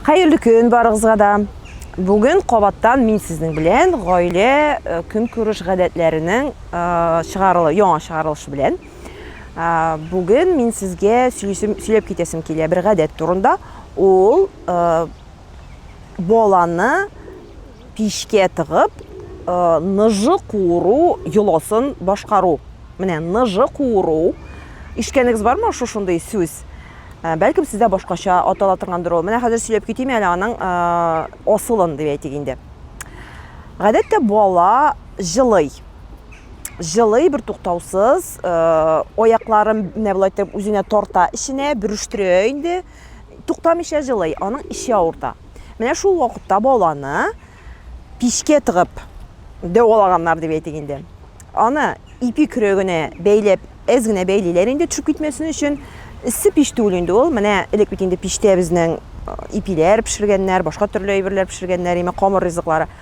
Хәерле көн барыгызга да. Бүген кабаттан мин сезнең белән гаилә э, көнкүреш гадәтләренең э, чыгарылы, яңа чыгарылышы белән. Э, Бүген мин сезгә сөйлисем, сөйләп китәсем килә бер гадәт турында. Ул э, баланы пичкә тыгып, ныжы куыру йоласын башкару. Менә ныжы куыру. Ишеткәнегез бармы шушындый сүз? Бәлкем сездә башкача атала торгандыр ул. Менә хәзер сөйләп китим әле аның асылын дип әйтик инде. Гадәттә бала җылый җылый бер туктаусыз, аякларын менә болай итеп үзенә тарта эченә, бөрештерә инде. Туктамыйча җылый, аның эче авырта. Менә шул вакытта баланы пичкә тыгып дәвалаганнар дип әйтик инде. Аны ипи көрәгенә бәйләп, әз генә бәйлиләр инде төшеп китмәсен өчен. Эссе пич түгел инде ул. Менә элек бит инде пичтә безнең ипиләр пешергәннәр, башка төрле әйберләр пешергәннәр, имә камыр ризыклары.